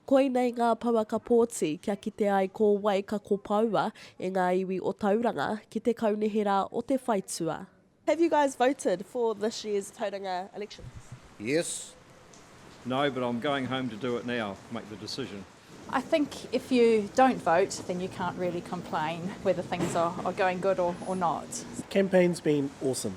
Koinei ngā pouaka pōti kia kite ai ko wai ka kopoua e ngā iwi o Tauranga ki te kaunihera o te whaitua. Have you guys voted for this year's Tauranga elections? Yes. No, but I'm going home to do it now, make the decision. I think if you don't vote then you can't really complain whether things are going good or not. Campaign's been awesome.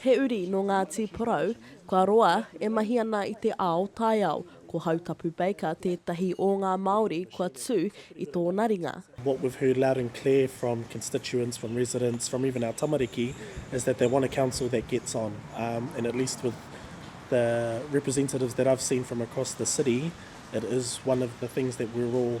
He uri nō Ngāti Porou, kua roa, e mahi ana i te ao taiao. Ko Hautapu Baker tētahi o ngā Māori kua tū i tōna ringa. What we've heard loud and clear from constituents, from residents, from even our tamariki is that they want a council that gets on and at least with the representatives that I've seen from across the city it is one of the things that we're all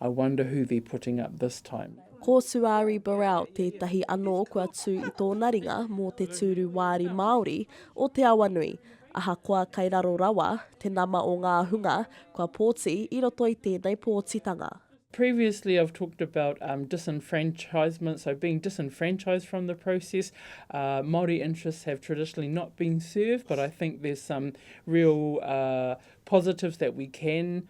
I wonder who they're putting up this time. Ko Suari Burrell tētahi anō kua tū i tōna ringa mō te tūru wāri Māori o Te Awanui. Ahakoa kai raro rawa te nama o ngā hunga kua pōti i roto i tēnei pōtitanga. Previously I've talked about um, disenfranchisement, so being disenfranchised from the process. Uh, Māori interests have traditionally not been served, but I think there's some real uh, positives that we can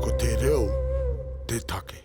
Ko te reo te take.